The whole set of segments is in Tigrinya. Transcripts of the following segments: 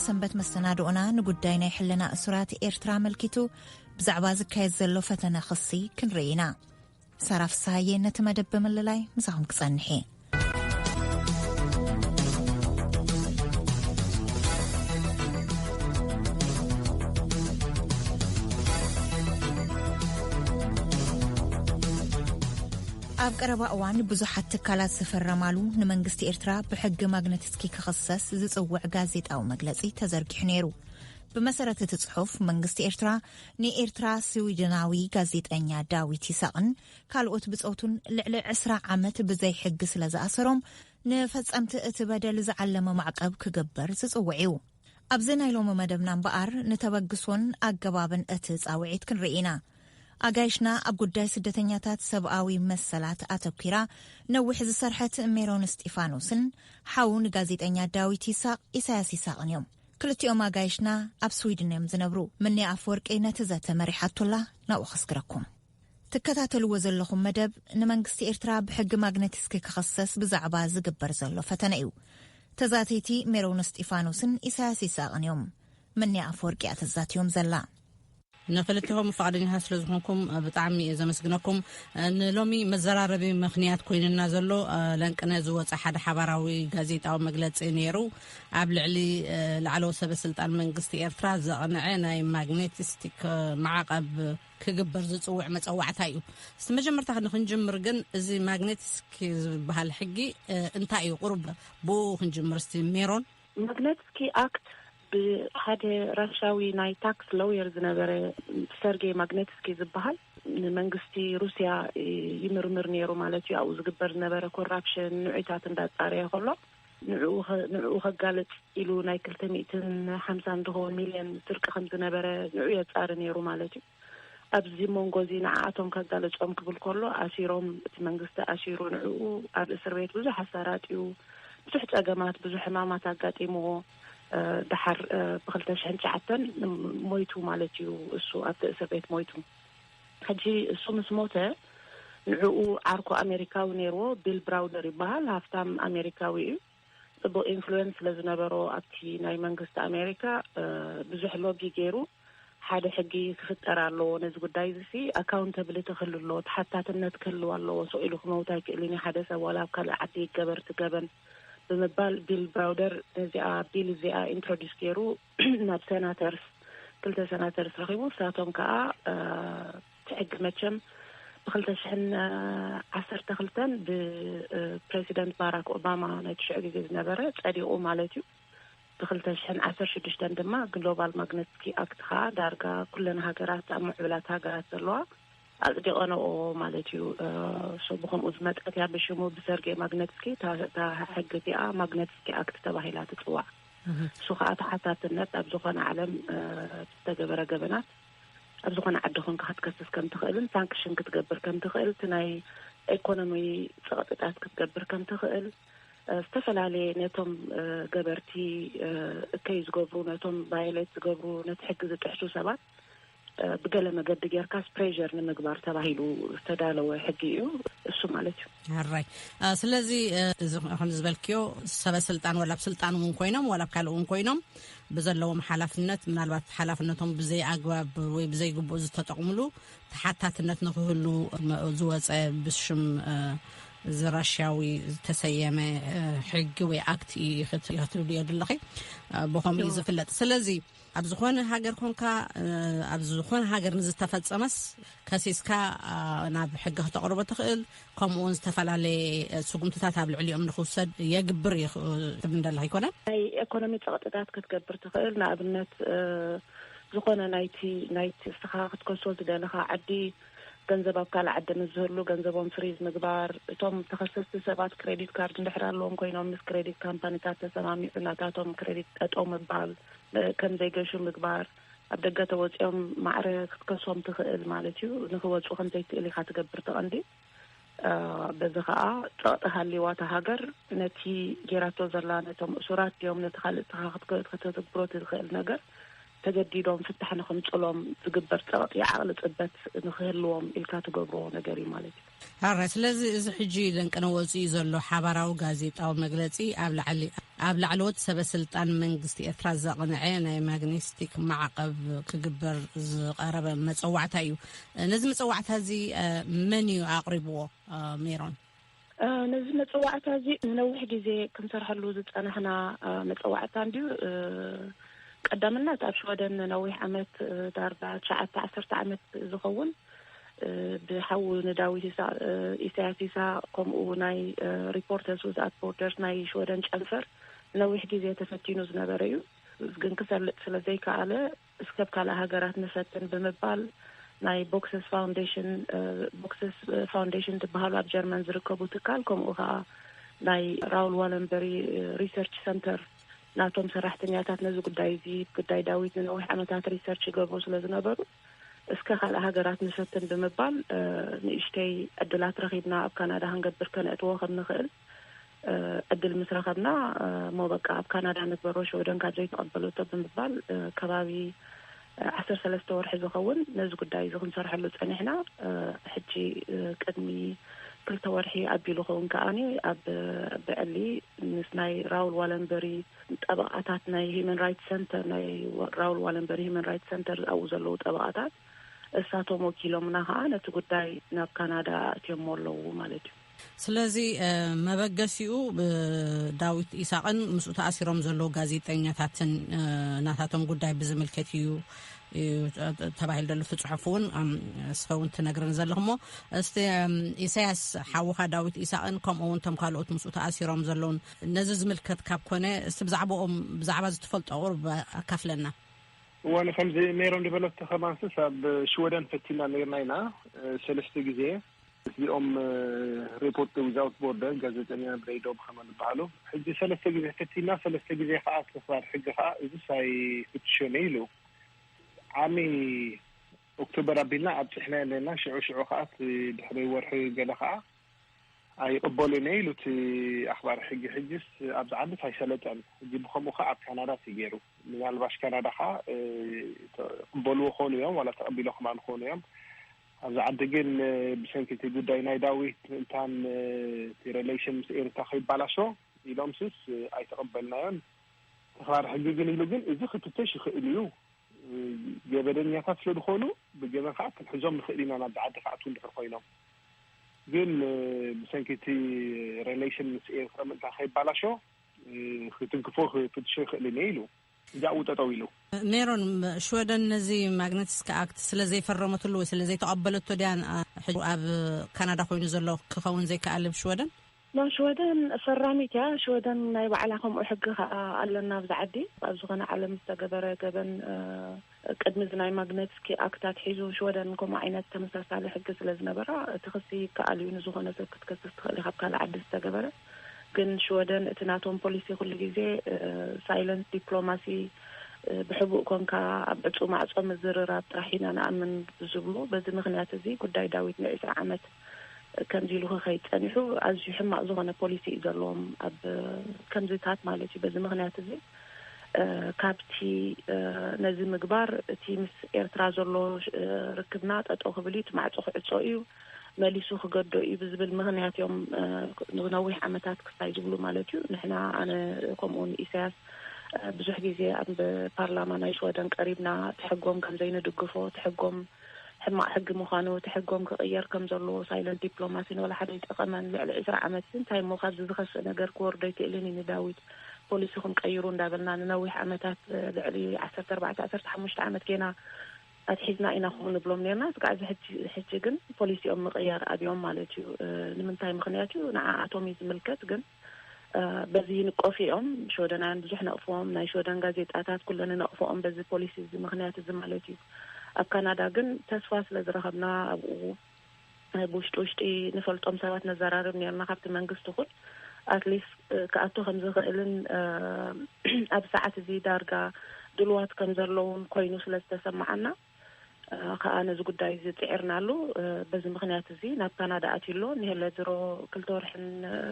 ሰንበት መሰናድኦና ንጉዳይ ናይ ሕልና እሱራት ኤርትራ ኣመልኪቱ ብዛዕባ ዝካየድ ዘሎ ፈተነ ክሲ ክንርኢ ኢና ሳራ ፍስሃየ ነቲ መደብ ብምልላይ ምሳኹም ክጸንሕ እየ ኣብ ቀረባ እዋን ብዙሓት ትካላት ዝፈረማሉ ንመንግስቲ ኤርትራ ብሕጊ ማግነትስኪ ክኽሰስ ዝጽውዕ ጋዜጣዊ መግለጺ ተዘርጊሑ ነይሩ ብመሰረት እቲ ጽሑፍ መንግስቲ ኤርትራ ንኤርትራ ስዊድናዊ ጋዜጠኛ ዳዊት ይሳቕን ካልኦት ብጾቱን ልዕሊ ዕስራ ዓመት ብዘይሕጊ ስለ ዝኣሰሮም፣ ንፈጸምቲ እቲ በደል ዝዓለመ ማዕቀብ ክግበር ዝጽውዕ'ዩ። ኣብዚ ናይ ሎሚ መደብና እምበኣር ንተበግሶን ኣገባብን እቲ ጻውዒት ክንርኢ ኢና። ኣጋይሽና ኣብ ጉዳይ ስደተኛታት ሰብኣዊ መሰላት ኣተኲራ ነዊሕ ዝሰርሐት ሜሮን እስጢፋኖስን ሓው ንጋዜጠኛ ዳዊት ይሳቕ ኢሳያስ ይሳቕን እዮም። ክልቲኦም ኣጋይሽና ኣብ ስዊድን እዮም ዝነብሩ። ምንያ ኣፍወርቂ ነቲ ዘተ መሪሓቶላ ናብኡ ከስግረኩም። ትከታተልዎ ዘለኹም መደብ ንመንግስቲ ኤርትራ ብሕጊ ማግነቲስኪ ክኽሰስ ብዛዕባ ዝግበር ዘሎ ፈተነ እዩ። ተዛተይቲ ሜሮን እስጢፋኖስን ኢሳያስ ይስሃቕን እዮም። ምንያ ኣፍወርቂ እያ ተዛትዮም ዘላ። ንክልቴኹም ፍቓደኛታት ስለ ዝኾንኩም ብጣዕሚ እየ ዘመስግነኩም ንሎሚ መዘራረቢ ምክንያት ኮይንና ዘሎ ለንቅነ ዝወፀ ሓደ ሓባራዊ ጋዜጣዊ መግለፂ ነይሩ ኣብ ልዕሊ ላዕለዎ ሰበ ስልጣን መንግስቲ ኤርትራ ዘቕንዐ ናይ ማግኔቲስቲክ ማዕቐብ ክግበር ዝፅውዕ መፀዋዕታ እዩ እስቲ መጀመርታ ንክንጅምር ግን እዚ ማግኔቲስክ ዝበሃል ሕጊ እንታይ እዩ ቁሩብ ብኡ ክንጅምር እስቲ ሜሮን ማግኔትስኪ ኣክት ብሓደ ራሻዊ ናይ ታክስ ሎየር ዝነበረ ሰርጌይ ማግነትስኪ ዝብሃል ንመንግስቲ ሩስያ ይምርምር ነይሩ ማለት እዩ። ኣብኡ ዝግበር ዝነበረ ኮራፕሽን ንዑታት እንዳጻረየ ከሎ ንዕኡ ከጋልጽ ኢሉ ናይ ክልተ ሚእትን ሓምሳን ዝኸውን ሚልዮን ስርቂ ከም ዝነበረ ንዑ የጻሪ ነይሩ ማለት እዩ። ኣብዚ ሞንጎ እዚ ንዓኣቶም ከጋልጾም ክብል ከሎ ኣሲሮም እቲ መንግስቲ ኣሲሩ ንዕኡ ኣብ እስር ቤት ብዙሕ ኣሳራጥዩ ብዙሕ ጸገማት ብዙሕ ሕማማት ኣጋጢምዎ ደሓር ብ ክልተ ሽሕን ትሽዓተን ሞይቱ ማለት እዩ እሱ ኣብቲ እስር ቤት ሞይቱ ሕጂ እሱ ምስ ሞተ ንዕኡ ዓርኩ ኣሜሪካዊ ኔርዎ ቢል ብራውደር ይበሃል ሃፍታም ኣሜሪካዊ እዩ። ጽቡቅ ኢንፍሉዌንስ ስለ ዝነበሮ ኣብቲ ናይ መንግስቲ ኣሜሪካ ብዙሕ ሎቢ ጌሩ ሓደ ሕጊ ክፍጠር ኣለዎ ነዚ ጉዳይ እዚሲ ኣካውንተብሊቲ ክህሉ ኣለዎ ተሓታትነት ክህልው ኣለዎ ስቅ ኢሉ ክመውት ኣይክእልን እዩ ሓደ ሰብ ዋላ ኣብ ካልእ ዓዲ ይገበር እቲ ገበን ብምባል ቢል ብራውደር ነዚኣ ቢል እዚኣ ኢንትሮዲስ ጌሩ ናብ ሰናተርስ ክልተ ሰናተርስ ረኺቡ ንሳቶም ከኣ እቲ ሕጊ መቸም ብክልተ ሽሕን ዓሰርተ ክልተን ብፕረሲደንት ባራክ ኦባማ ናይ ትሽዑ ግዜ ዝነበረ ጸዲቑ ማለት እዩ ብክልተ ሽሕን ዓሰር ሽዱሽተን ድማ ግሎባል ማግነትስኪ ኣክት ከዓ ዳርጋ ኩለን ሃገራት ኣብ ምዕብላት ሃገራት ዘለዋ ኣጽዲቐንኦ ማለት እዩ። እሱ ብኸምኡ ዝመጸት እያ። ብሽሙ ብሰርጌይ ማግነትስኪ እታ እታ ሕጊ እቲኣ ማግነትስኪ ኣክት ተባሂላ ትጽዋዕ። እሱ ከኣ ተሓታትነት ኣብ ዝኾነ ዓለም ብዝተገበረ ገበናት ኣብ ዝኾነ ዓዲ ኮንካ ክትከስስ ከም ትኽእልን ሳንክሽን ክትገብር ከም ትኽእል እቲ ናይ ኤኮኖሚ ጸቕጥታት ክትገብር ከም ትኽእል ዝተፈላለየ ነቶም ገበርቲ እከይ ዝገብሩ ነቶም ቫዮሌት ዝገብሩ ነቲ ሕጊ ዝጥሕሱ ሰባት ብገለ መገዲ ጌርካስ ፕሬር ንምግባር ተባሂሉ ዝተዳለወ ሕጊ እዩ እሱ ማለት እዩ ራይ ስለዚ እዚ ከም ዝበልክዮ ሰበስልጣን ዋላ ብ ስልጣን እውን ኮይኖም ዋላ ብ ካልእ እውን ኮይኖም ብዘለዎም ሓላፍነት ምናልባት ሓላፍነቶም ብዘይ ኣግባብ ወይ ብዘይግቡእ ዝተጠቕምሉ ተሓታትነት ንክህሉ ዝወፀ ብሽም እዚ ራሽያዊ ዝተሰየመ ሕጊ ወይ ኣክት ክትብሉ እዮ ድለኸ ብከምኡ እዩ ዝፍለጥ ስለዚ ኣብ ዝኾነ ሃገር ኮንካ ኣብ ዝኾነ ሃገር ንዝተፈፀመስ ከሲስካ ናብ ሕጊ ክተቕርቦ ትኽእል ከምኡ ውን ዝተፈላለየ ስጉምትታት ኣብ ልዕሊኦም ንክውሰድ የግብር እዩ ትብል ደላ ኣይኮነን ናይ ኤኮኖሚ ፀቕጥታት ክትገብር ትኽእል ንኣብነት ዝኾነ ናይቲ ናይቲ እስኻ ክትከሶ ዝደለኻ ዓዲ ገንዘብ ኣብ ካልእ ዓዲ ምስ ዝህሉ ገንዘቦም ፍሪዝ ምግባር እቶም ተኸሰስቲ ሰባት ክሬዲት ካርድ እንድሕር ኣለዎም ኮይኖም ምስ ክሬዲት ካምፓኒታት ተሰማሚዑ ናታቶም ክሬዲት ጠጠው ምባል ከም ዘይገሹ ምግባር፣ ኣብ ደገ ተወጺኦም ማዕረ ክትከሶም ትኽእል ማለት እዩ፣ ንኽወጹ ከም ዘይክእል ኢኻ ትገብር እቲ ቀንዲ። በዚ ኸኣ ጸቕጢ ሃልይዋ እታ ሃገር ነቲ ጌራቶ ዘላ ነቶም እሱራት ድዮም ነቲ ካልእ ንስኻ ከተትግብሮ ትኽእል ነገር ተገዲዶም ፍታሕ ንኽምጽሎም ዝግበር ጸቕጢ ዓቕሊ ጽበት ንኽህልዎም ኢልካ ትገብሮ ነገር እዩ ማለት እዩ። ኣራይ ስለዚ እዚ ሕጂ ደንቅነ ወጺኡ ዘሎ ሓባራዊ ጋዜጣዊ መግለጺ ኣብ ላዕሊ ኣብ ላዕለዎት ሰበ ስልጣን መንግስቲ ኤርትራ ዘቕንዐ ናይ ማግኔስቲክ ማዕቐብ ክግበር ዝቐረበ መጸዋዕታ እዩ ነዚ መጸዋዕታ እዚ መን እዩ ኣቕሪብዎ ሜሮን ነዚ መጸዋዕታ እዚ ንነዊሕ ግዜ ክንሰርሐሉ ዝጸናሕና መጸዋዕታ እንድዩ ቀዳምነት ኣብ ሽወደን ነዊሕ ዓመት ዳርጋ ትሸዓተ ዓሰርተ ዓመት ዝኸውን ብሓው ንዳዊት ኢሳቅ ኢሳያስ ኢሳቅ ከምኡ ናይ ሪፖርተርስ ዊዝኣት ቦርደርስ ናይ ሽወደን ጨንፈር ንነዊሕ ግዜ ተፈቲኑ ዝነበረ እዩ። ግን ክሰልጥ ስለ ዘይከኣለ እስከ ኣብ ካልእ ሃገራት ንፈትን ብምባል ናይ ቦክስስ ፋውንዴሽን ቦክስስ ፋውንዴሽን ዝበሃሉ ኣብ ጀርመን ዝርከቡ ትካል ከምኡ ከዓ ናይ ራውል ዋለንበሪ ሪሰርች ሰንተር ናቶም ሰራሕተኛታት ነዚ ጉዳይ እዚ ጉዳይ ዳዊት ንነዊሕ ዓመታት ሪሰርች ይገብሩ ስለ ዝነበሩ እስከ ካልእ ሃገራት ንፈትን ብምባል ንእሽተይ ዕድላት ረኺብና ኣብ ካናዳ ክንገብር ከነእትዎ ከም ንኽእል ዕድል ምስ ረኸብና እሞ በቃ ኣብ ካናዳ ንግበሮ ሽወደን ካብ ዘይተቐበለቶ ብምባል ከባቢ ዓሰርተ ሰለስተ ወርሒ ዝኸውን ነዚ ጉዳይ እዚ ክንሰርሐሉ ጸኒሕና ሕጂ ቅድሚ ክልተ ወርሒ ኣቢሉ ኸውን ከኣ ኣብ ብዕሊ ምስ ናይ ራውል ዋለንበሪ ጠበቓታት ናይ ሂዩመን ራይትስ ሰንተር ናይ ራውል ዋለንበሪ ሂዩመን ራይትስ ሰንተር ኣብኡ ዘለዉ ጠበቓታት እሳቶም ወኪሎምና ከኣ ነቲ ጉዳይ ናብ ካናዳ ኣእትዮሞ ኣለዉ ማለት እዩ። ስለዚ መበገሲኡ ዳዊት ኢሳቕን ምስኡ ተኣሲሮም ዘለዉ ጋዜጠኛታትን ናታቶም ጉዳይ ብዝምልከት እዩ ተባሂሉ ዘሎ እቲ ፅሑፍ እውን እስኸ እውን ትነግርን ዘለኹ እሞ እስቲ ኢሳያስ ሓውኻ ዳዊት ኢሳቕን ከምኡ እውን እቶም ካልኦት ምስኡ ተኣሲሮም ዘለውን ነዚ ዝምልከት ካብ ኮነ እስቲ ብዛዕባኦም ብዛዕባ እዚ ትፈልጦ ቁሩብ ኣካፍለና። እዋን ከምዚ ሜሮን ዝበለቶ ከማንስስ ኣብ ሽወደን ፈቲና ነርና ኢና ሰለስተ ግዜ ምስዚኦም ሪፖርት ዊዛውት ቦርደር ጋዜጠኛ ብረይ ዶብ ከመ ዝበሃሉ ሕጂ ሰለስተ ግዜ ፈቲና ሰለስተ ግዜ ከዓ ተኽባር ሕጊ ከዓ እዚ ሳይ ፍትሾን ኢሉ ዓሚ ኦክቶበር ኣቢልና ኣብፅሕና ኣለና ሽዑ ሽዑ ከዓ ድሕሪ ወርሒ ገለ ከዓ ኣይቅበሉን እየ ኢሉ እቲ ኣኽባሪ ሕጊ ሕጅስ ኣብዚ ዓድስ ኣይሰለጠን ሕጂ ብከምኡ ከኣ ኣብ ካናዳስ እዩ ጌሩ ምናልባሽ ካናዳ ከኣ ይቅበልዎ ይኮኑ እዮም ዋላ ተቀቢሎ ከማን ይኮኑ እዮም ኣብዚ ዓዲ ግን ብሰንኪ እቲ ጉዳይ ናይ ዳዊት እንታን እቲ ረለሽን ምስ ኤሪትራ ከይባላሾ ኢሎምስስ ኣይተቀበልናዮን ተኽባሪ ሕጊ ግን ኢሉ ግን እዚ ክትተሽ ይክእል እዩ ገበነኛታት ስለዝኮኑ ብገበን ከኣ ክንሕዞም ንክእል ኢና ናብዚ ዓዲ ከኣትዉ እንድሕር ኮይኖም ግን ብሰንኪ እቲ ሬሌሽን ምስ ኤርትራ ምእንታ ከይባላሾ ክትንክፎ ክፍትሾ ይኽእል እኔ ኢሉ እዚኣኡ ጠጠው ኢሉ። ሜሮን ሽወደን ነዚ ማግነትስኪ ኣክት ስለ ዘይፈረመትሉ ወይ ስለ ዘይተቐበለቶ ድያ ሕጂ ኣብ ካናዳ ኮይኑ ዘሎ ክኸውን ዘይከኣል ብ ሽወደን? ን ሽወደን ፈራሚት እያ ሽወደን ናይ ባዕላ ከምኡ ሕጊ ከኣ ኣሎና ኣብዚ ዓዲ ኣብ ዝኮነ ዓለም ዝተገበረ ገበን ቅድሚ እዚ ናይ ማግነትስኪ ኣክት ኣትሒዙ ሽወደን ከምኡ ዓይነት ተመሳሳሊ ሕጊ ስለ ዝነበራ እቲ ክሲ ይከኣል እዩ ንዝኮነ ሰብ ክትከስስ ትክእል ኢካ ብ ካልእ ዓዲ ዝተገበረ ግን ሽወደን እቲ ናቶም ፖሊሲ ኩሉ ግዜ ሳይለንት ዲፕሎማሲ ብሕቡእ ኮንካ ኣብ ዕጹው ማዕጾ ምዝርራብ ጥራሕ ኢና ንኣምን ብዝብሉ በዚ ምክንያት እዚ ጉዳይ ዳዊት ን ዕስራ ዓመት ከምዚ ኢሉ ክኸይድ ጸኒሑ ኣዝዩ ሕማቕ ዝኾነ ፖሊሲ እዩ ዘለዎም ኣብ ከምዚታት ማለት እዩ በዚ ምኽንያት እዚ ካብቲ ነዚ ምግባር እቲ ምስ ኤርትራ ዘሎ ርክብና ጠጠው ክብል እዩ እቲ ማዕጾ ክዕጾ እዩ መሊሱ ክገዶ እዩ ብዝብል ምኽንያት እዮም ንነዊሕ ዓመታት ክስታይ ዝብሉ ማለት እዩ ንሕና ኣነ ከምኡውን ኢሳያስ ብዙሕ ግዜ ኣብ ፓርላማ ናይ ሽወደን ቀሪብና ትሕጎም ከምዘይንድግፎ ትሕጎም ሕማቅ ሕጊ ምዃኑ እቲ ሕጎም ክቅየር ከም ዘለዎ ሳይለንት ዲፕሎማሲ ንወላሓደ ኣይጠቀመን ልዕሊ ዕስራ ዓመት እንታይ እሞ ካብዚ ዝኸፍእ ነገር ክወርድ ኣይክእልን እዩ ንዳዊት ፖሊሲኹም ቀይሩ እንዳበልና ንነዊሕ ዓመታት ልዕሊ ዓሰርተ ኣርባዕተ ዓሰርተ ሓሙሽተ ዓመት ጌና ኣትሒዝና ኢና ከምኡ ንብሎም ኔርና እስካዕ ሕጂ ግን ፖሊሲኦም ምቅያር ኣብዮም ማለት እዩ ንምንታይ ምኽንያት እዩ ንዓኣቶም እዩ ዝምልከት ግን በዚ ይንቀፉ ኢዮም። ሽወደናውያን ብዙሕ ነቕፍዎም። ናይ ሽወደን ጋዜጣታት ኩለን ይነቕፍኦም በዚ ፖሊሲ እዚ ምኽንያት እዚ ማለት ኢዩ። ኣብ ካናዳ ግን ተስፋ ስለ ዝረኸብና ኣብኡ ብውሽጢ ውሽጢ ንፈልጦም ሰባት ነዘራርብ ኔርና ካብቲ መንግስቲ ይኹን ኣትሊስት ክኣቱ ከም ዝኽእልን ኣብዚ ሰዓት እዚ ዳርጋ ድሉዋት ከም ዘለዉን ኮይኑ ስለ ዝተሰመዓና ከኣ ነዚ ጉዳይ እዚ ጽዒርናሉ። በዚ ምኽንያት እዚ ናብ ካናዳ ኣትዩ ኣሎ። ንሄለ ድሮ ክልተ ወርሕን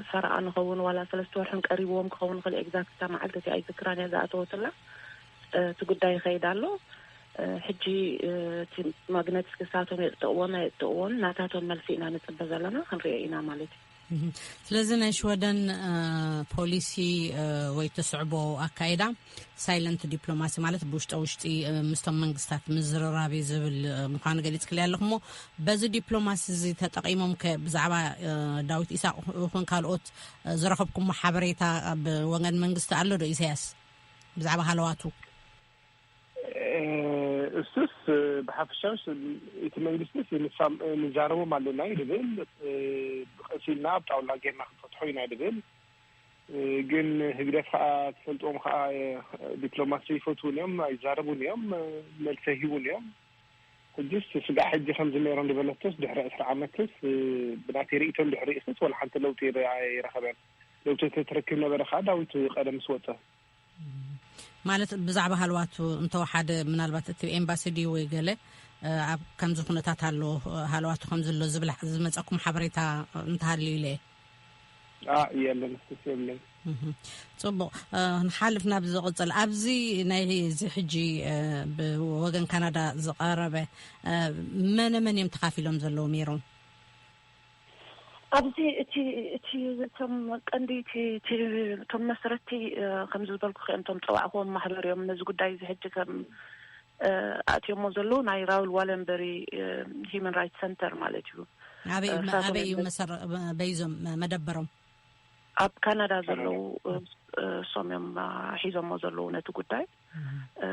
ፈረቓ ንኸውን ዋላ ሰለስተ ወርሕን ቀሪብዎም ክኸውን ይኽእል ኤግዛክት እታ መዓልቲ እቲኣ ኣይዝክራን እያ ዝኣተወትላ እቲ ጉዳይ ይኸይድ ኣሎ። ሕጂ እቲ ማግነትስ ክሳቶም የጽድቕዎን ኣየጽድቕዎን ናታቶም መልሲ ኢና ንጽበ ዘለና ክንሪኦ ኢና ማለት እዩ። ስለዚ ናይ ሽወደን ፖሊሲ ወይ ትስዕቦ ኣካይዳ ሳይለንት ዲፕሎማሲ ማለት ብውሽጠ ውሽጢ ምስቶም መንግስታት ምዝርራብ እዩ ዝብል ምኳኑ ገሊፅ ክልያ ኣለኹሞ በዚ ዲፕሎማሲ እዚ ተጠቂሞም ብዛዕባ ዳዊት ኢሳቅ ይኹን ካልኦት ዝረኸብኩሞ ሓበሬታ ብወገን መንግስቲ ኣሎ ዶ ኢሳያስ ብዛዕባ ሃለዋቱ እሱስ ብሓፈሻውስ እቲ መንግስትስ ንዛረቦም ኣለና እዩ ድብል ብቀስ ኢልና ኣብ ጣውላ ጌርና ክንፈትሖ ኢና ድብል ግን ህግደፍ ከዓ ትፈልጥዎም ከዓ ዲፕሎማሲ ይፈትውን እዮም ኣይዛረቡን እዮም መልሰ ሂቡን እዮም ሕጅስ ስጋዕ ሕጂ ከምዚ ነይሮም ዝበለቶስ ድሕሪ ዕስራ ዓመትስ ብናተይ ርእቶ እንድሕር ርእስስ ወላ ሓንቲ ለውጢ ኣይረኸበን ለውጢ ተትረክብ ነበረ ከዓ ዳዊት ቀደምስ ወፀ ማለት ብዛዕባ ሃለዋቱ እንተወሓደ ምናልባት እቲ ኤምባሲ ድዩ ወይ ገለ ኣብ ከምዚ ኩነታት ኣሎ ሃለዋቱ ከምዝሎ ዝብላ ዝመፀኩም ሓበሬታ እንተሃልዩ ኢለ እየ የለን እስኩስ የብለይ ፅቡቅ ንሓልፍ ናብ ዝቕፅል ኣብዚ ናይ እዚ ሕጂ ብወገን ካናዳ ዝቐረበ መነ መን እዮም ተካፊሎም ዘለዉ ሜሮም ኣብዚ እቲ እቲ እቶም ቀንዲ እቲ እቲ እቶም መስረቲ ከምዚ ዝበልኩ ክእም እቶም ፀዋዕኹዎም ማሕበር እዮም ነዚ ጉዳይ እዚ ሕጂ ከም ኣእትዮሞ ዘለዉ ናይ ራውል ዋለንበሪ ሂመን ራይት ሰንተር ማለት እዩ ኣበይ እዩ መሰረ በይዞም መደበሮም ኣብ ካናዳ ዘለዉ እሶም እዮም ሒዞሞ ዘለዉ ነቲ ጉዳይ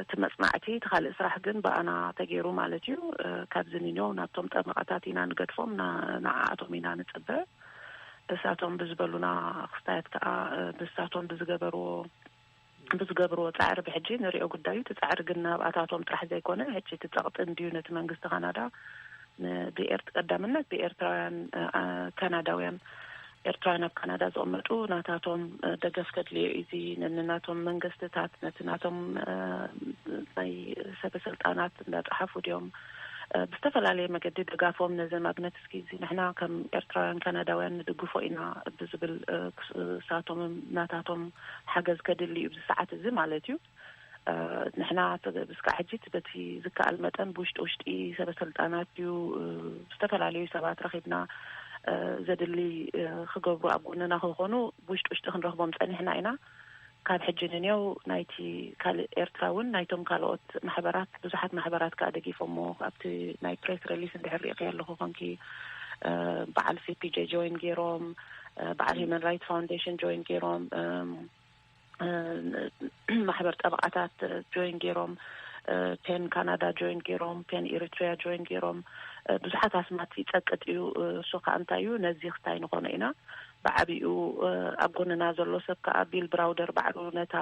እቲ መጽናዕቲ እቲ ካልእ ስራሕ ግን ብኣና ተገይሩ ማለት እዩ ካብዚ ኒንዮው ናብቶም ጠበቓታት ኢና ንገድፎም ንዓኣቶም ኢና ንጽበ እሳቶም ብዝበሉና ክስታያት ከኣ ብሳቶም ብዝገበርዎ ብዝገብርዎ ጻዕሪ ብሕጂ ንሪኦ ጉዳዩ እቲ ጻዕሪ ግን ናብኣታቶም ጥራሕ ዘይኮነ ሕጂ እቲ ጸቕጢ እንድዩ ነቲ መንግስቲ ካናዳ ንብኤርት ቀዳምነት ብኤርትራውያን ካናዳውያን ኤርትራውያን ኣብ ካናዳ ዝቕመጡ ናታቶም ደገፍ ከድልዮ እዩ እዚ ነንናቶም መንግስትታት ነቲ ናቶም ናይ ሰበ ስልጣናት እንዳጸሓፉ ድዮም ብዝተፈላለየ መገዲ ደጋፎም ነዚ ማግነት እስኪ እዚ ንሕና ከም ኤርትራውያን ካናዳውያን ንድግፎ ኢና ብዝብል ክሳቶምም ናታቶም ሓገዝ ከድሊ እዩ ብዚ ሰዓት እዚ ማለት እዩ ንሕና እስካዕ ሕጂ በቲ ዝከኣል መጠን ብውሽጢ ውሽጢ ሰበሰልጣናት ድዩ ዝተፈላለዩ ሰባት ረኺብና ዘድሊ ክገብሩ ኣብ ጎንና ክኾኑ ብውሽጢ ውሽጢ ክንረኽቦም ጸኒሕና ኢና። ካብ ሕጂ ንኔው ናይቲ ካልእ ኤርትራ እውን ናይቶም ካልኦት ማሕበራት ብዙሓት ማሕበራት ከኣ ደጊፎሞ ኣብቲ ናይ ፕሬስ ረሊስ እንድሕር ሪኢኽዮ ኣለኹ ኮንኪ በዓል ሲፒጄ ጆይን ገይሮም በዓል ሂመን ራይት ፋውንዴሽን ጆይን ገይሮም ማሕበር ጠበቓታት ጆይን ገይሮም፣ ፔን ካናዳ ጆይን ገይሮም፣ ፔን ኤሪትሪያ ጆይን ገይሮም፣ ብዙሓት ኣስማት ይጸቅጥ እዩ። እሱ ከኣ እንታይ እዩ ነዚ ክስታይ ንኾኖ ኢና ብዓቢኡ ኣብ ጎንና ዘሎ ሰብ ከኣ ቢል ብራውደር ባዕሉ ነታ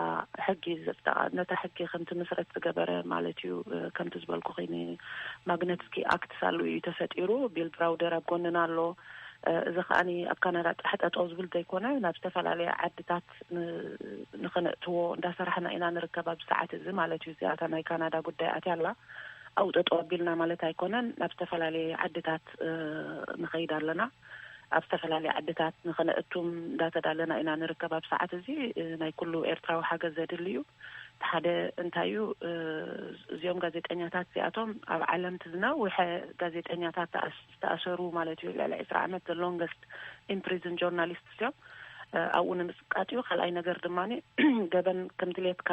ሕጊ ዘጽደቓ ነታ ሕጊ ከም ትምስረት ዝገበረ ማለት እዩ ከምቲ ዝበልኩኺ ማግነትስኪ ኣክትስ ኣሉ እዩ ተፈጢሩ ቢል ብራውደር ኣብ ጎንና ኣሎ እዚ ከኣ ኣብ ካናዳ ጥራሕ ጠጠው ዝብል ዘይኮነ ናብ ዝተፈላለያ ዓድታት ንኸነእትዎ እንዳሰራሕና ኢና ንርከብ ኣብዚ ሰዓት እዚ ማለት እዩ። እዚኣ እታ ናይ ካናዳ ጉዳይ ኣትያ ኣላ ኣብኡ ጠጠው ኣቢልና ማለት ኣይኮነን ናብ ዝተፈላለየ ዓድታት ንኸይድ ኣለና ኣብ ዝተፈላለየ ዓድታት ንኸነእቱም እንዳተዳለና ኢና ንርከብ ኣብ ሰዓት እዚ ናይ ኩሉ ኤርትራዊ ሓገዝ ዘድሊ እዩ እቲ ሓደ እንታይ እዩ እዚኦም ጋዜጠኛታት እዚኣቶም ኣብ ዓለም እቲ ዝነውሐ ጋዜጠኛታት ዝተኣሰሩ ማለት እዩ ልዕሊ ዕስራ ዓመት the longest in prison journalists እዮም ኣብኡ ንምጽቃጥ እዩ ካልኣይ ነገር ድማ ገበን ከም ድሌትካ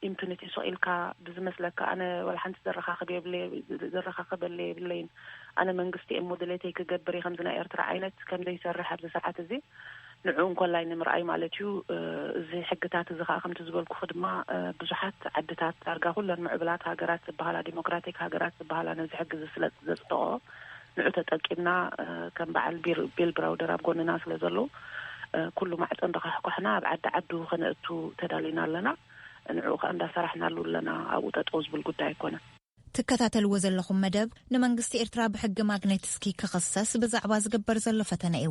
ኢምፒኒቲ ሱቅ ኢልካ ብዝመስለካ ኣነ ዋላ ሓንቲ ዘረካክብ የብለይ ዘረካክበለ የብለይን ኣነ መንግስቲ እየ እሞ ድሌተይ ክገብር እየ ከምዚ ናይ ኤርትራ ዓይነት ከምዘይሰርሕ ኣብዚ ሰዓት እዚ ንዕኡ እንኮላይ ንምርኣይ ማለት እዩ። እዚ ሕግታት እዚ ከኣ ከምቲ ዝበልኩኺ ድማ ብዙሓት ዓድታት ዳርጋ ኩለን ምዕቡላት ሃገራት ዝበሃላ ዲሞክራቲክ ሃገራት ዝበሃላ ነዚ ሕጊ እዚ ስለ ዘጽደቕኦ ንዑ ተጠቂምና ከም በዓል ቢል ብራውደር ኣብ ጎንና ስለ ዘለዉ ኩሉ ማዕጾ እንዳዃሕኳሕና ኣብ ዓዲ ዓዱ ከነእቱ ተዳሊና ኣለና። ንዕኡ ከኣ እንዳሰራሕናሉ ኣለና። ኣብኡ ጠጠው ዝብል ጉዳይ ኣይኮነን። ትከታተልዎ ዘለኹም መደብ ንመንግስቲ ኤርትራ ብሕጊ ማግኔትስኪ ክኽሰስ ብዛዕባ ዝግበር ዘሎ ፈተነ እዩ።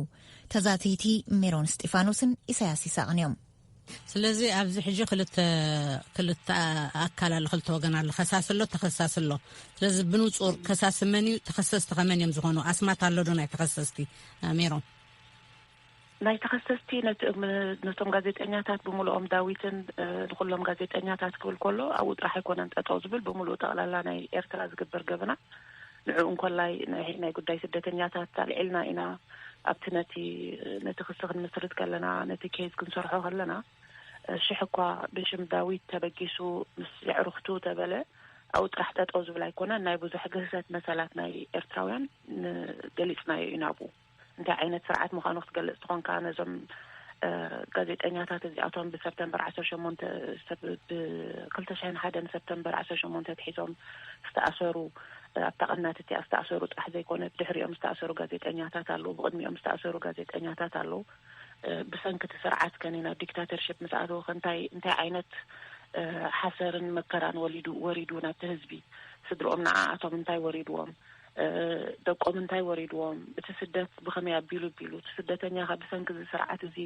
ተዛተይቲ ሜሮን እስጢፋኖስን ኢሳያስ ይሳቕን እዮም። ስለዚ ኣብዚ ሕጂ ክልተ ክልተ ኣካል ኣሎ፣ ክልተ ወገን ኣሎ፣ ከሳሲ ኣሎ፣ ተኸሳሲ ኣሎ። ስለዚ ብንጹር ከሳሲ መን እዩ፣ ተኸሰስቲ ከመን እዮም ዝኾኑ? ኣስማት ኣሎ ዶ ናይ ተኸሰስቲ ሜሮን? ናይ ተኸሰስቲ ነቲ እም ነቶም ጋዜጠኛታት ብምሉኦም ዳዊትን ንኹሎም ጋዜጠኛታት ክብል ከሎ ኣብኡ ጥራሕ ኣይኮነን ጠጠው ዝብል ብምሉኡ ጠቕላላ ናይ ኤርትራ ዝግበር ገበናት ንዕኡ እንኮላይ ናይ ናይ ጉዳይ ስደተኛታት ኣልዒልና ኢና ኣብቲ ነቲ ነቲ ክሲ ክንምስርት ከለና ነቲ ኬዝ ክንሰርሖ ከለና ሽሕ እኳ ብሽም ዳዊት ተበጊሱ ምስ የዕሩኽቱ ተበለ ኣብኡ ጥራሕ ጠጠው ዝብል ኣይኮነን ናይ ብዙሕ ግህሰት መሰላት ናይ ኤርትራውያን ገሊጽናዮ ኢና ኣብኡ እንታይ ዓይነት ስርዓት ምዃኑ ክትገልጽ ተኾንካ ነዞም ጋዜጠኛታት እዚኣቶም ብሰብተምበር ዓሰርተ ሸሞንተ ብክልተ ሽሕን ሓደን ሰብተምበር ዓሰርተ ሸሞንተ ኣትሒዞም ዝተኣሰሩ ኣብታ ቀናት እቲኣ ዝተኣሰሩ ጥራሕ ዘይኮነ ብድሕሪኦም ዝተኣሰሩ ጋዜጠኛታት ኣለዉ ብቕድሚኦም ዝተኣሰሩ ጋዜጠኛታት ኣለዉ ብሰንኪ እቲ ስርዓት ከኒ ናብ ዲክታተርሽፕ ምስ ኣተወ ከንታይ እንታይ ዓይነት ሓሰርን መከራን ወሊዱ ወሪዱ ናብቲ ህዝቢ ስድርኦም ንዓኣቶም እንታይ ወሪድዎም ደቆም እንታይ ወሪድዎም፣ እቲ ስደት ብኸመይ ኣቢሉ ኣቢሉ፣ እቲ ስደተኛ ከ ብሰንኪ እዚ ስርዓት እዚ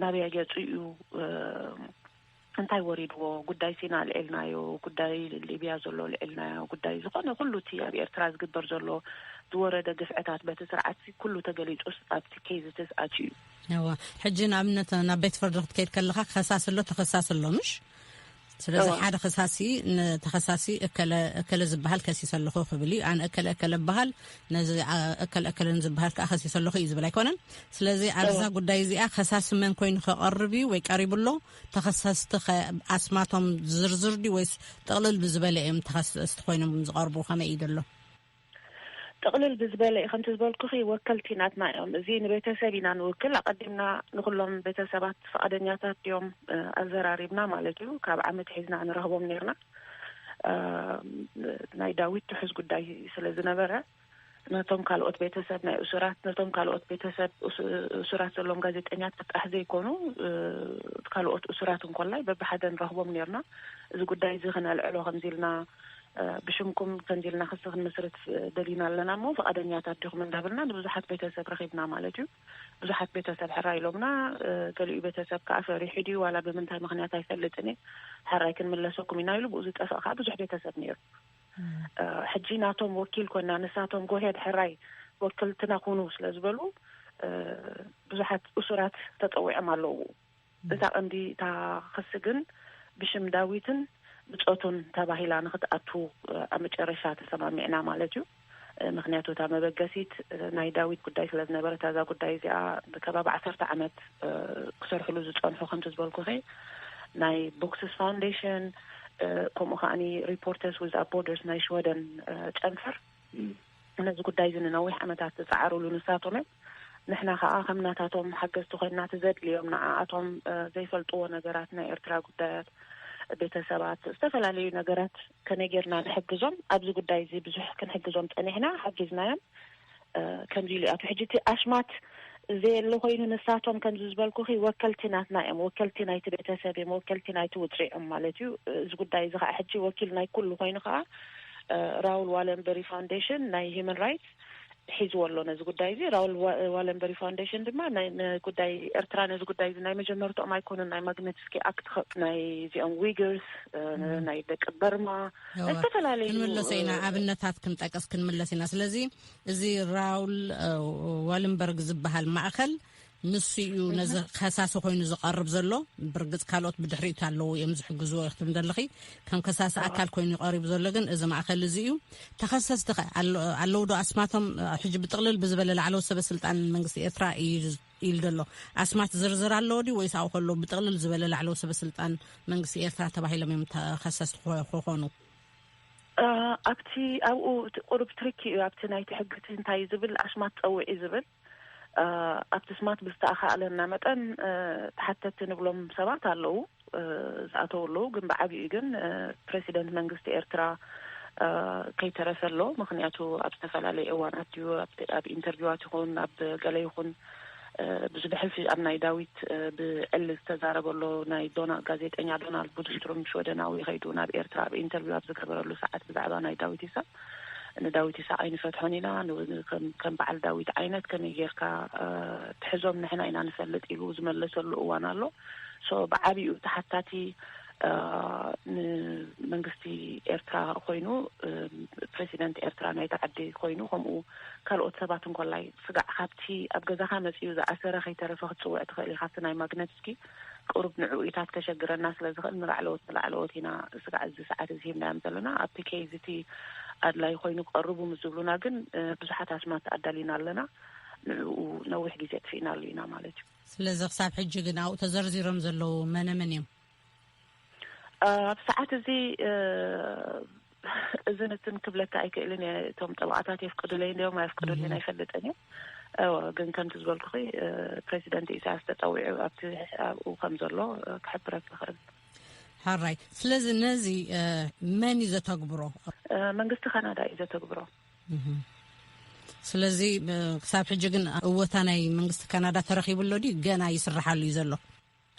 ናበይ ኣግያጩ እዩ፣ እንታይ ወሪድዎ፣ ጉዳይ ሲና ኣልዒልናዮ፣ ጉዳይ ሊብያ ዘሎ ኣልዒልናዮ፣ ጉዳይ ዝኾነ ኩሉ እቲ ኣብ ኤርትራ ዝግበር ዘሎ ዝወረደ ግፍዕታት በቲ ስርዓትሲ ኩሉ ተገሊጹስ ኣብቲ ኬዝትስ ኣትዩ እዩ። እወ ሕጂ ንኣብነት ናብ ቤት ፍርዲ ክትከይድ ከለኻ ከሳሲ ኣሎ ተኸሳሲ ኣሎ ምሽ ስለዚ ሓደ ከሳሲ ንተኸሳሲ እከለ እከለ ዝበሃል ከሲሰ ኣለኹ ክብል እዩ ኣነ እከለ እከለ በሃል ነዚ እከለ እከለ ዝበሃል ከዓ ከሲሰ ኣለኹ እዩ ዝብል ኣይኮነን ስለዚ ኣብዛ ጉዳይ እዚኣ ከሳሲ መን ኮይኑ ከቐርብ እዩ ወይ ቀሪቡ ኣሎ ተኸሰስቲ ኣስማቶም ዝርዝር ድዩ ወይስ ጥቕልል ብዝበለ እዮም ተኸሰስቲ ኮይኖም ዝቐርቡ ከመይ እዩ ዘሎ ጥቕልል ብዝበለ ከምቲ ዝበልኩኺ ወከልቲ ናትና እዮም እዚ ንቤተሰብ ኢና ንውክል ኣቐዲምና ንኹሎም ቤተሰባት ፍቓደኛታት ድዮም ኣዘራሪብና ማለት እዩ ካብ ዓመት ሒዝና ንረኽቦም ኔርና ናይ ዳዊት ትሑዝ ጉዳይ ስለ ዝነበረ ነቶም ካልኦት ቤተሰብ ናይ እሱራት ነቶም ካልኦት ቤተሰብ እሱራት ዘለዎም ጋዜጠኛታት ጥራሕ ዘይኮኑ ካልኦት እሱራት እንኮላይ በብሓደ ንረኽቦም ኔርና እዚ ጉዳይ እዚ ክነልዕሎ ከምዚ ኢልና ብሽምኩም ከምዚ ኢልና ክሲ ክንምስርት ደሊና ኣለና እሞ ፍቓደኛታት ዲኹም እንዳበልና ንብዙሓት ቤተሰብ ረኺብና ማለት እዩ። ብዙሓት ቤተሰብ ሕራይ ኢሎምና። ገሊኡ ቤተሰብ ከኣ ፈሪሑ ድዩ ዋላ ብምንታይ ምኽንያት ኣይፈልጥን እየ ሕራይ ክንምለሰኩም ኢና ኢሉ ብኡ ዝጠፍእ ከኣ ብዙሕ ቤተሰብ ነይሩ። ሕጂ ናቶም ወኪል ኮና ንሳቶም ጎሄድ ሕራይ ወክልትና ኩኑ ስለ ዝበሉ ብዙሓት እሱራት ተጸዊዖም ኣለዉ። እታ ቐንዲ እታ ኽሲ ግን ብሽም ዳዊትን ብጾቱን ተባሂላ ንኽትኣቱ ኣብ መጨረሻ ተሰማሚዕና ማለት እዩ ምኽንያቱ እታ መበገሲት ናይ ዳዊት ጉዳይ ስለ ዝነበረት ኣዛ ጉዳይ እዚኣ ብከባቢ ዓሰርተ ዓመት ክሰርሕሉ ዝጸንሑ ከምቲ ዝበልኩኺ ናይ ቦክስስ ፋውንዴሽን ከምኡ ከዓኒ ሪፖርተርስ ዊዛውት ቦርደርስ ናይ ሽወደን ጨንፈር ነዚ ጉዳይ እዚ ንነዊሕ ዓመታት ዝጸዓሩሉ ንሳቶም እዮም። ንሕና ከኣ ከም ናታቶም ሓገዝቲ ኮይንና እቲ ዘድልዮም ንዓኣቶም ዘይፈልጥዎ ነገራት ናይ ኤርትራ ጉዳያት ቤተሰባት ዝተፈላለዩ ነገራት ከመይ ጌርና ንሕግዞም ኣብዚ ጉዳይ እዚ ብዙሕ ክንሕግዞም ጸኒሕና ሓጊዝናዮም ከምዚ ኢሉ ኣቱ ሕጂ እቲ ኣሽማት ዘየለ ኮይኑ ንሳቶም ከምዚ ዝበልኩኺ ወከልቲ ናትና እዮም ወከልቲ ናይቲ ቤተሰብ እዮም ወከልቲ ናይቲ ውጽዕ እዮም ማለት እዩ እዚ ጉዳይ እዚ ከዓ ሕጂ ወኪል ናይ ኩሉ ኮይኑ ከዓ ራውል ዋለንበሪ ፋውንዴሽን ናይ ሂዩማን ራይትስ ሒዝዎ ኣሎ ነዚ ጉዳይ እዚ ራውል ዋለንበሪ ፋውንዴሽን ድማ ጉዳይ ኤርትራ ነዚ ጉዳይ እዚ ናይ መጀመርትኦም ኣይኮኑን ናይ ማግነትስኪ ኣክት ናይ እዚኦም ዊግርስ ናይ ደቂ በርማ ናይ ዝተፈላለዩ ክንምለሰ ኢና ኣብነታት ክንጠቅስ ክንምለስ ኢና ስለዚ እዚ ራውል ዋለንበርግ ዝበሃል ማእኸል ንሱ እዩ ነዚ ከሳሲ ኮይኑ ዝቐርብ ዘሎ ብርግፅ ካልኦት ብድሕሪት ኣለዉ እዮም ዝሕግዝዎ ይክትም ዘለኺ ከም ከሳሲ ኣካል ኮይኑ ይቀሪቡ ዘሎ ግን እዚ ማእከል እዚ እዩ ተኸሰስቲ ኸ ኣለዉ ዶ ኣስማቶም ሕጂ ብጥቕልል ብዝበለ ላዕለዎ ሰበ ስልጣን መንግስቲ ኤርትራ እዩ ኢሉ ዘሎ ኣስማት ዝርዝር ኣለዎ ድዩ ወይስ ኣብኡ ከለዉ ብጥቕልል ዝበለ ላዕለዎ ሰበ ስልጣን መንግስቲ ኤርትራ ተባሂሎም እዮም ተኸሰስቲ ክኾኑ ኣብቲ ኣብኡ ቁሩብ ትርኪ እዩ ኣብቲ ናይቲ ሕግቲ እንታይ ዝብል ኣስማት ፀውዒ ዝብል ኣብቲ ስማት ብዝተኣኻእለና መጠን ተሓተቲ ንብሎም ሰባት ኣለዉ፣ ዝኣተዉ ኣለዉ፣ ግን ብዓቢኡ ግን ፕረሲደንት መንግስቲ ኤርትራ ከይተረፈ ኣሎ፣ ምኽንያቱ ኣብ ዝተፈላለየ እዋን ኣትዩ ኣብ ኢንተርቪዋት ይኹን ኣብ ገለ ይኹን ብዙ ብሕልፊ ኣብ ናይ ዳዊት ብዕሊ ዝተዛረበ ኣሎ፣ ናይ ዶና ጋዜጠኛ ዶናልድ ቡድስትሩም ሽወደናዊ ከይዱ ናብ ኤርትራ ኣብ ኢንተርቪው ኣብ ዝገበረሉ ሰዓት ብዛዕባ ናይ ዳዊት ኢሳቅ ንዳዊት ኢሳቅ ኣይንፈትሖን ኢና ከም በዓል ዳዊት ዓይነት ከመይ ጌርካ ትሕዞም ንሕና ኢና ንፈልጥ ኢሉ ዝመለሰሉ እዋን ኣሎ so ብዓቢኡ እቲ ሓታቲ ንመንግስቲ ኤርትራ ኮይኑ ፕረሲደንት ኤርትራ ናይታ ዓዲ ኮይኑ ከምኡ ካልኦት ሰባት እንኮላይ ስጋዕ ካብቲ ኣብ ገዛኻ መጺኡ ዝኣሰረ ከይተረፈ ክትጽውዕ ትኽእል ኢኻ ኣብቲ ናይ ማግነትስኪ ቅሩብ ንዕኡኢታት ከሸግረና ስለ ዝኽእል ንላዕለዎት ንላዕለዎት ኢና ስጋዕ እዚ ሰዓት እዚ ሂብናዮም ዘለና ኣብቲ ኬዝ እቲ ኣድላይ ኮይኑ ክቐርቡ ምስ ዝብሉና ግን ብዙሓት ኣስማት ኣዳሊና ኣለና ንዕኡ ነዊሕ ግዜ ኣጥፊእናሉ ኢና ማለት እዩ ስለዚ ክሳብ ሕጂ ግን ኣብኡ ተዘርዚሮም ዘለዉ መነመን እዮም ኣብ ሰዓት እዚ እዚ ንትን ክብለካ ኣይክእልን እየ እቶም ጠበቓታት የፍቅዱለይ እንዲዮም ኣየፍቅዱለይን ኣይፈልጥን እየ እወ ግን ከምቲ ዝበልኩኺ ፕሬዚደንት ኢሳያስ ተፀዊዑ ኣብቲ ኣብኡ ከም ዘሎ ክሕብረክ ይኽእል ሓራይ ስለዚ ነዚ መን እዩ ዘተግብሮ መንግስቲ ካናዳ እዩ ዘተግብሮ ስለዚ ክሳብ ሕጂ ግን እወታ ናይ መንግስቲ ካናዳ ተረኪቡ ኣሎ ድዩ ገና ይስራሓሉ እዩ ዘሎ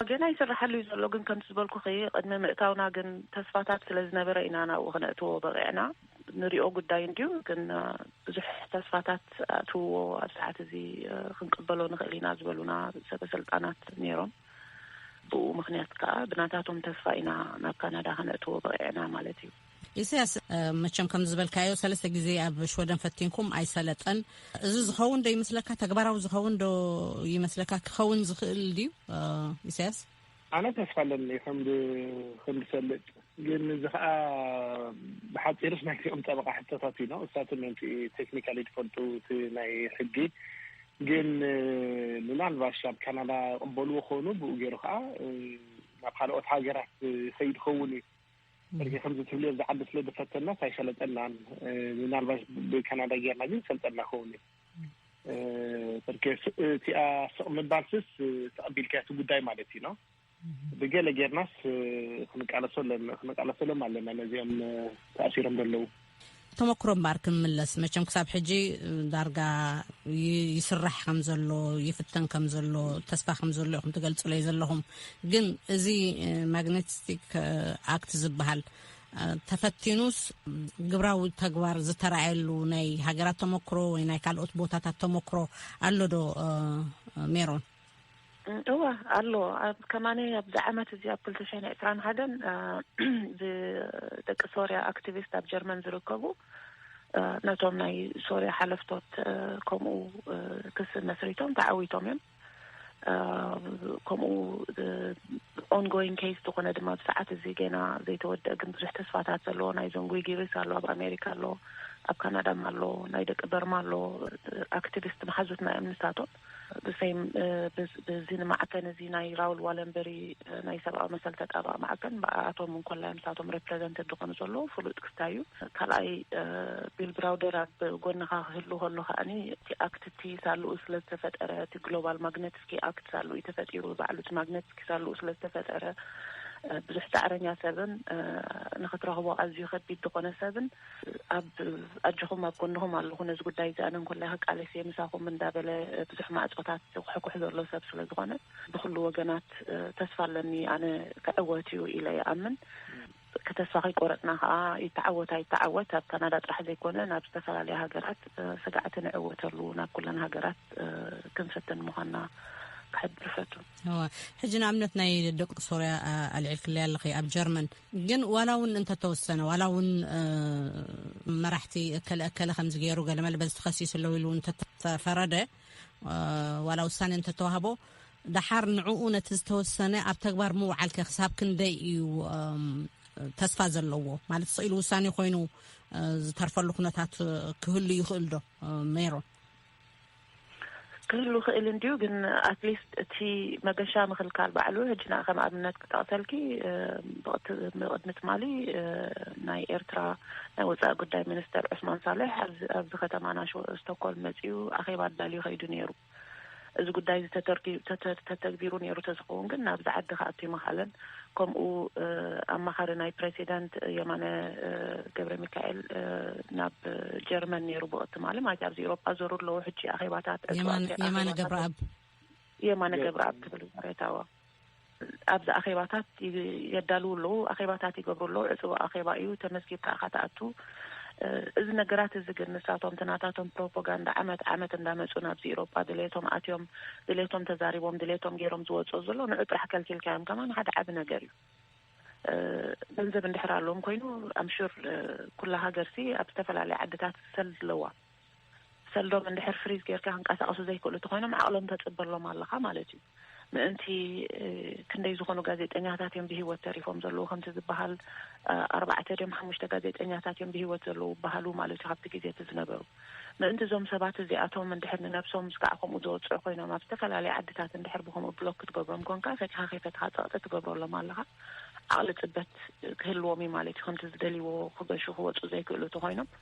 ገና ይስራሓሉ እዩ ዘሎ ግን ከምቲ ዝበልኩኺ ቅድሚ ምእታውና ግን ተስፋታት ስለ ዝነበረ ኢና ናብኡ ክነእትዎ በቒዕና ንሪኦ ጉዳይ እንድዩ ግን ብዙሕ ተስፋታት ኣእትውዎ ኣብ ሰዓት እዚ ክንቅበሎ ንኽእል ኢና ዝበሉና ሰበሰልጣናት ነይሮም ብኡ ምኽንያት ከዓ ብናታቶም ተስፋ ኢና ናብ ካናዳ ከነእትዎ በቒዕና ማለት እዩ ኢሳያስ መቸም ከም ዝበልካዮ ሰለስተ ግዜ ኣብ ሽወደን ፈቲንኩም ኣይሰለጠን እዚ ዝኸውን ዶ ይመስለካ ተግባራዊ ዝኸውን ዶ ይመስለካ ክኸውን ዝኽእል ድዩ ኢሳያስ ኣነ ተስፋ ኣለኒ ከም ከምዝሰልጥ ግን እዚ ከዓ ብሓፂርስ ናይ ኦም ጠበቃ ሕቶታት እዩ ነው እሳትን ንቲ ቴክኒካሊ ትፈልጡ እቲ ናይ ሕጊ ግን ምናልባሽ ኣብ ካናዳ ቅበልዎ ከኑ ብኡ ገይሩ ከዓ ናብ ካልኦት ሃገራት ይኸይድ ኸውን እዩ ሕዚ ከምዚ ትብልዮ ኣብዚ ዓዲ ስለ ዝፈተናስ ኣይሰለጠናን ምናልባሽ ብካናዳ ጌርና ግን ሰልጠና ከውን እቲኣ ስቕ ምባልስስ ተቐቢልካዮ እቲ ጉዳይ ማለት እዩ ኖ ብገለ ጌርናስ ክንቃለሰሎም ኣለና ነዚኦም ተኣሲሮም ዘለዉ ተመክሮ እምበኣር ክንምለስ መቸም ክሳብ ሕጂ ዳርጋ ይስራሕ ከም ዘሎ ይፍተን ከም ዘሎ ተስፋ ከም ዘሎ ኢኹም ትገልጽለይ ዘለኹም ግን እዚ ማግነቲስቲክ ኣክት ዝበሃል ተፈቲኑስ ግብራዊ ተግባር ዝተረኣየሉ ናይ ሃገራት ተመክሮ ወይ ናይ ካልኦት ቦታታት ተመክሮ ኣሎ ዶ ሜሮን? እወ ኣሎ ኣብ ከማኒ ኣብዚ ዓመት እዚ ኣብ ክልተ ሽሕን ዕስራን ሓደን ብደቂ ሶርያ ኣክቲቪስት ኣብ ጀርመን ዝርከቡ ነቶም ናይ ሶርያ ሓለፍቶት ከምኡ ክሲ መስሪቶም ተዓዊቶም እዮም ከምኡ ኦንጎይን ኬስ ዝኾነ ድማ ብ ሰዓት እዚ ገና ዘይተወደአ ግን ብዙሕ ተስፋታት ዘለዎ ናይ ዘንጉይ ጊሪስ ኣሎ ኣብ ኣሜሪካ ኣሎ ኣብ ካናዳ ኣሎ ናይ ደቂ በርማ ኣሎ ኣክቲቪስት መሓዙትና እዮም ንሳቶም ብዚ ንማዕከን እዚ ናይ ራውል ዋለንበሪ ናይ ሰብኣዊ መሰል ተጣባቒ ማዕከን ብኣኣቶም እንኮላይ ምሳቶም ረፕረዘንትድ ዝኾኑ ዘለዉ ፍሉጥ ክስታይ እዩ። ካልኣይ ቢል ብራውደር ኣብ ጎንኻ ክህሉ ከሎ ከኣኒ እቲ ኣክት እቲ ሳልኡ ስለ ዝተፈጠረ እቲ ግሎባል ማግነትስኪ ኣክት ሳልኡ እዩ ተፈጢሩ ባዕሉ እቲ ማግነትስኪ ሳልኡ ስለ ዝተፈጠረ ብዙሕ ጻዕረኛ ሰብን ንኽትረኽቦ ኣዝዩ ከቢድ ዝኾነ ሰብን ኣብ ኣጆኹም ኣብ ጎንኹም ኣለኹ ነዚ ጉዳይ እዚ ኣነ እንኮላይ ክቃለስ እየ ምሳኹም እንዳበለ ብዙሕ ማዕጾታት ዝኹሕኩሕ ዘሎ ሰብ ስለ ዝኾነ ብኹሉ ወገናት ተስፋ ኣለኒ ኣነ ክዕወት እዩ ኢለ ይኣምን ከተስፋ ከይቆረጽና ከኣ ይተዓወት ኣይተዓወት ኣብ ካናዳ ጥራሕ ዘይኮነ ናብ ዝተፈላለያ ሃገራት ስጋዕቲ ንዕወተሉ ናብ ኩለን ሃገራት ክንፍትን ምዃንና ክሕብር እፈቱ። እወ ሕጂ ንኣብነት ናይ ደቂ ሶርያ ኣልዒልክለይ ኣለኺ ኣብ ጀርመን ግን ዋላ እውን እንተተወሰነ ዋላ እውን መራሕቲ እከለ እከለ ከምዚ ገይሩ ገለመለ በዚ ተኸሲሱ ኣለዉ ኢሉ እንተተፈረደ ዋላ ውሳኔ እንተተዋህቦ ደሓር ንዕኡ ነቲ ዝተወሰነ ኣብ ተግባር ምውዓል ከ ክሳብ ክንደይ እዩ ተስፋ ዘለዎ ማለት ስኢሉ ውሳኔ ኮይኑ ዝተርፈሉ ኩነታት ክህሉ ይኽእል ዶ ሜሮን ክህሉ ይኽእል እንድዩ ግን ኣትሊስት እቲ መገሻ ምኽልካል ባዕሉ ሕጂ ንኣ ከም ኣብነት ክጠቕሰልኪ ብቕድሚ ትማሊ ናይ ኤርትራ ናይ ወጻኢ ጉዳይ ሚኒስተር ዑስማን ሳልሕ ኣብዚ ከተማና ስቶኮልም መጺኡ ኣኼባ ኣዳልዩ ከይዱ ነይሩ እዚ ጉዳይ እዚ ተተግቢሩ ነይሩ ተዝኸውን ግን ናብዚ ዓዲ ክኣቱ ኣይምኻለን ከምኡ ኣማኻሪ ናይ ፕረሲደንት የማነ ገብረሚካኤል ናብ ጀርመን ነይሩ ብኦ ትማሊ ማለት ኣብዚ ኤሮጳ ዘሩ ኣለዉ ሕጂ ኣኼባታት የማነ ገብረኣብ የማነ ገብረኣብ ክብል ዝረታዎ ኣብዚ ኣኼባታት የዳልው ኣለዉ ኣኼባታት ይገብሩ ኣለዉ ዕፅቡ ኣኼባ እዩ ተመዝጊብካ ኢካ ትኣቱ እዚ ነገራት እዚ ግን ንሳቶም እቲ ናታቶም ፕሮፖጋንዳ ዓመት ዓመት እንዳመጹ ናብዚ ኢሮጳ ድሌቶም ኣትዮም ድሌቶም ተዛሪቦም ድሌቶም ጌሮም ዝወጽኦ ዘሎ ንዑ ጥራሕ ከልኪልካዮም ከማን ሓደ ዓቢ ነገር እዩ ገንዘብ እንድሕር ኣለዎም ኮይኑ ኣምሹር ኩላ ሃገርሲ ኣብ ዝተፈላለየ ዓድታት ሰልድ ኣለዋ ሰልዶም እንድሕር ፍሪዝ ጌርካ ክንቀሳቀሱ ዘይክእሉ ተኾይኖም ዓቅሎም ተጽበሎም ኣለኻ ማለት እዩ ምእንቲ ክንደይ ዝኾኑ ጋዜጠኛታት እዮም ብሂወት ተሪፎም ዘለዉ ከምቲ ዝበሃል ኣርባዕተ ድዮም ሓሙሽተ ጋዜጠኛታት እዮም ብሂወት ዘለዉ በሃሉ ማለት እዩ ካብቲ ግዜ እቲ ዝነበሩ ምእንቲ እዞም ሰባት እዚኣቶም እንድሕር ንነብሶም ምስካዕ ከምኡ ዘወጽዑ ኮይኖም ኣብ ዝተፈላለየ ዓድታት እንድሕር ብከምኡ ብሎክ ክትገብሮም ኮንካ ፈቲኻ ከይፈትኻ ጸቅጢ ትገብረሎም ኣለኻ ዓቅሊ ጽበት ክህልዎም እዩ ማለት እዩ ከምቲ ዝደልይዎ ክገሹ ክወጹ ዘይክእሉ ተኾይኖም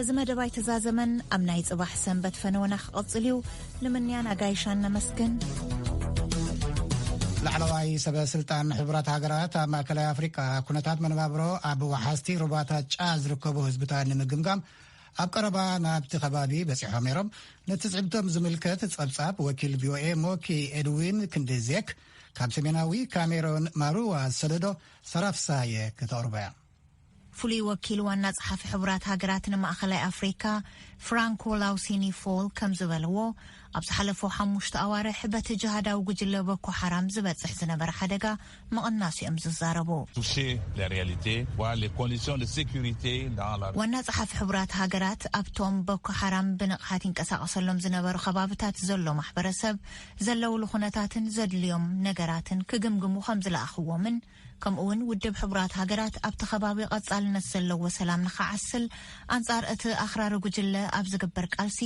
እዚ መደብ ኣይተዛዘመን ኣብ ናይ ጽባሕ ሰንበት ፈነወና ክቐጽል እዩ ንምንያን ኣጋይሻን ነመስግን። ላዕለዋይ ሰበ ስልጣን ሕቡራት ሃገራት ኣብ ማእከላይ ኣፍሪቃ ኩነታት መነባብሮ ኣብ ወሓዝቲ ሩባታት ጫ ዝርከቡ ህዝብታት ንምግምጋም ኣብ ቀረባ ናብቲ ከባቢ በፂሖም ነይሮም ነቲ ፅዕብቶም ዝምልከት ፀብፃብ ወኪል ቪኦኤ ሞኪ ኤድዊን ክንዲዜክ ካብ ሰሜናዊ ካሜሮን ማሩዋ ዝሰደዶ ሰራፍሳየ ከተቕርቦ እያ ፍሉይ ወኪል ዋና ጸሓፊ ሕቡራት ሃገራት ንማእኸላይ ኣፍሪካ ፍራንኮ ላውሲኒ ፎል ከም ዝበልዎ ኣብ ዝሓለፉ ሓሙሽተ ኣዋርሕ በቲ ጅሃዳዊ ጉጅለ ቦኮ ሓራም ዝበፅሕ ዝነበረ ሓደጋ ምቕናሱ እዮም ዝዛረቡ። ዋና ጸሓፊ ሕቡራት ሃገራት ኣብቶም ቦኮ ሓራም ብንቕሓት ይንቀሳቐሰሎም ዝነበሩ ከባብታት ዘሎ ማሕበረሰብ ዘለውሉ ኩነታትን ዘድልዮም ነገራትን ክግምግሙ ከም ዝለኣኽዎምን ከምኡ'ውን ውድብ ሕቡራት ሃገራት ኣብቲ ከባቢ ቐጻልነት ዘለዎ ሰላም ንኽዓስል ኣንጻር እቲ ኣኽራሪ ጉጅለ ኣብ ዝግበር ቃልሲ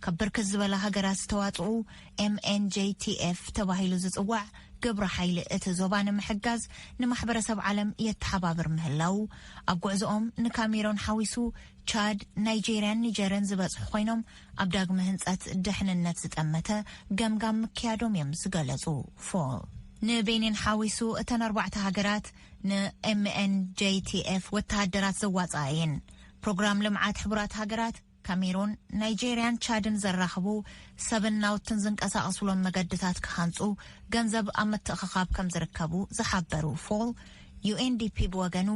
ካብ ብርክት ዝበላ ሃገራት ዝተዋጽኡ MNJTF ተባሂሉ ዝጽዋዕ ግብረ ሓይሊ እቲ ዞባ ንምሕጋዝ ንማሕበረሰብ ዓለም የተሓባብር ምህላዉ ኣብ ጉዕዞኦም ንካሜሮን ሓዊሱ ቻድ፣ ናይጀርያን ኒጀርን ዝበጽሑ ኮይኖም ኣብ ዳግመ ህንፀት ድሕንነት ዝጠመተ ገምጋም ምክያዶም እዮም ዝገለፁ ፎል። ንቤኒን ሓዊሱ እተን ኣርባዕተ ሃገራት ንኤምኤንጄቲኤፍ ወተሃደራት ዘዋፅኣ እየን። ፕሮግራም ልምዓት ሕቡራት ሃገራት ካሜሩን፣ ናይጀርያን ቻድን ዘራኽቡ ሰብን ናውትን ዝንቀሳቐስሎም መገድታት ክሃንፁ ገንዘብ ኣብ ምትእኽኻብ ከም ዝርከቡ ዝሓበሩ ፎል ዩኤንዲፒ ብወገኑ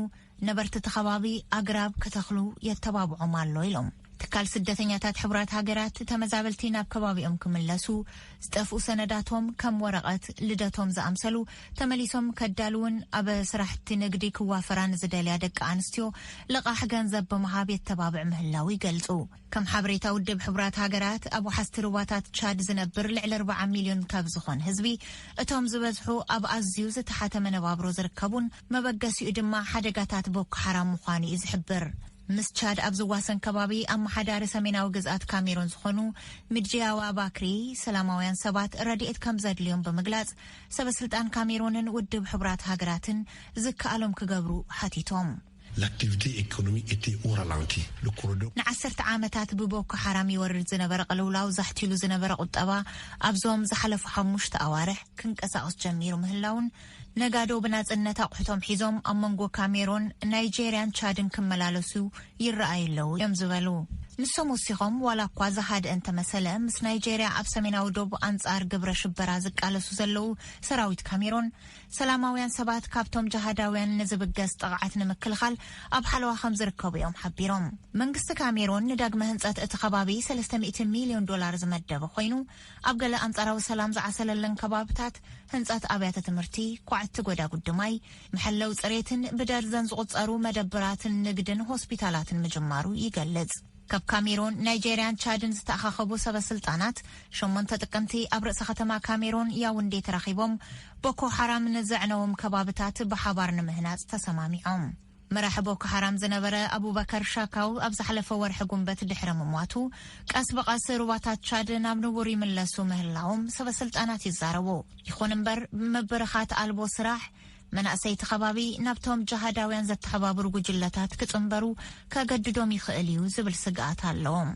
ነበርቲ እቲ ከባቢ ኣግራብ ክተኽሉ የተባብዖም ኣሎ ኢሎም። ትካል ስደተኛታት ሕቡራት ሃገራት ተመዛበልቲ ናብ ከባቢኦም ክምለሱ ዝጠፍኡ ሰነዳቶም ከም ወረቐት ልደቶም ዝኣምሰሉ ተመሊሶም ከዳልውን ኣብ ስራሕቲ ንግዲ ክዋፈራ ንዝደልያ ደቂ ኣንስትዮ ልቓሕ ገንዘብ ብምሃብ የተባብዕ ምህላው ይገልጹ። ከም ሓበሬታ ውድብ ሕቡራት ሃገራት ኣብ ውሓስቲ ሩባታት ቻድ ዝነብር ልዕሊ 40 ሚልዮን ካብ ዝኾን ህዝቢ እቶም ዝበዝሑ ኣብ ኣዝዩ ዝተሓተ መነባብሮ ዝርከቡን መበገሲኡ ድማ ሓደጋታት ቦኮ ሓራም ምዃኑ እዩ ዝሕብር። ምስ ቻድ ኣብ ዝዋሰን ከባቢ ኣመሓዳሪ ሰሜናዊ ግዝኣት ካሜሩን ዝኾኑ ሚድጂያዋ ባክሪ ሰላማውያን ሰባት ረድኤት ከም ዘድልዮም ብምግላጽ ሰበ ስልጣን ካሜሩንን ውድብ ሕቡራት ሃገራትን ዝከኣሎም ክገብሩ ሓቲቶም። ንዓሰርተ ዓመታት ብቦኮ ሓራም ይወርድ ዝነበረ ቅልውላው ዛሕቲሉ ዝነበረ ቁጠባ ኣብዞም ዝሓለፉ ሓሙሽተ ኣዋርሕ ክንቀሳቕስ ጀሚሩ ምህላዉን ነጋዶ ብናጽነት ኣቑሑቶም ሒዞም ኣብ መንጎ ካሜሮን፣ ናይጀርያን ቻድን ክመላለሱ ይረኣዩ ኣለዉ እዮም ዝበሉ። ንሶም ወሲኾም ዋላ እኳ ዝሃድአ እንተመሰለ ምስ ናይጀርያ ኣብ ሰሜናዊ ዶብ ኣንጻር ግብረ ሽበራ ዝቃለሱ ዘለዉ ሰራዊት ካሜሮን ሰላማውያን ሰባት ካብቶም ጀሃዳውያን ንዝብገስ ጥቕዓት ንምክልኻል ኣብ ሓለዋ ከም ዝርከቡ እዮም ሓቢሮም። መንግስቲ ካሜሮን ንዳግመ ህንጸት እቲ ከባቢ ሰለስተ ሚእቲ ሚልዮን ዶላር ዝመደበ ኮይኑ ኣብ ገለ ኣንጻራዊ ሰላም ዝዓሰለለን ከባብታት፣ ህንጸት ኣብያተ ትምህርቲ፣ ኳዕቲ ጎዳጉዲ ማይ፣ መሐለዊ ጽሬትን ብደርዘን ዝቑጸሩ መደብራትን ንግድን ሆስፒታላትን ምጅማሩ ይገልጽ። ካብ ካሜሮን፣ ናይጀርያን ቻድን ዝተኣኻኸቡ ሰበስልጣናት ሸሞንተ ጥቅምቲ ኣብ ርእሰ ከተማ ካሜሮን ያውንዴ ተራኺቦም ቦኮ ሓራም ንዘዕነዎም ከባብታት ብሓባር ንምህናጽ ተሰማሚዖም። መራሒ ቦኮ ሓራም ዝነበረ ኣቡበከር ሻካው ኣብ ዝሓለፈ ወርሒ ጉንበት ድሕሪ ምሟቱ፣ ቀስ ብቐስ ሩባታት ቻድ ናብ ንቡር ይምለሱ ምህላዎም ሰበስልጣናት ይዛረቡ። ይኹን እምበር፣ ምብርኻት ኣልቦ ስራሕ፣ መናእሰይ እቲ ከባቢ ናብቶም ጀሃዳውያን ዘተሓባብሩ ጉጅለታት ክጽንበሩ ከገድዶም ይኽእል እዩ ዝብል ስግኣት ኣሎዎም።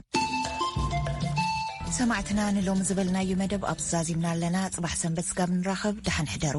ሰማዕትና ንሎሚ ዝበልናዩ መደብ ኣብዚ ዛዚምና ኣለና። ጽባሕ ሰንበት ስጋብ ንራኸብ ደሓን ሕደሩ።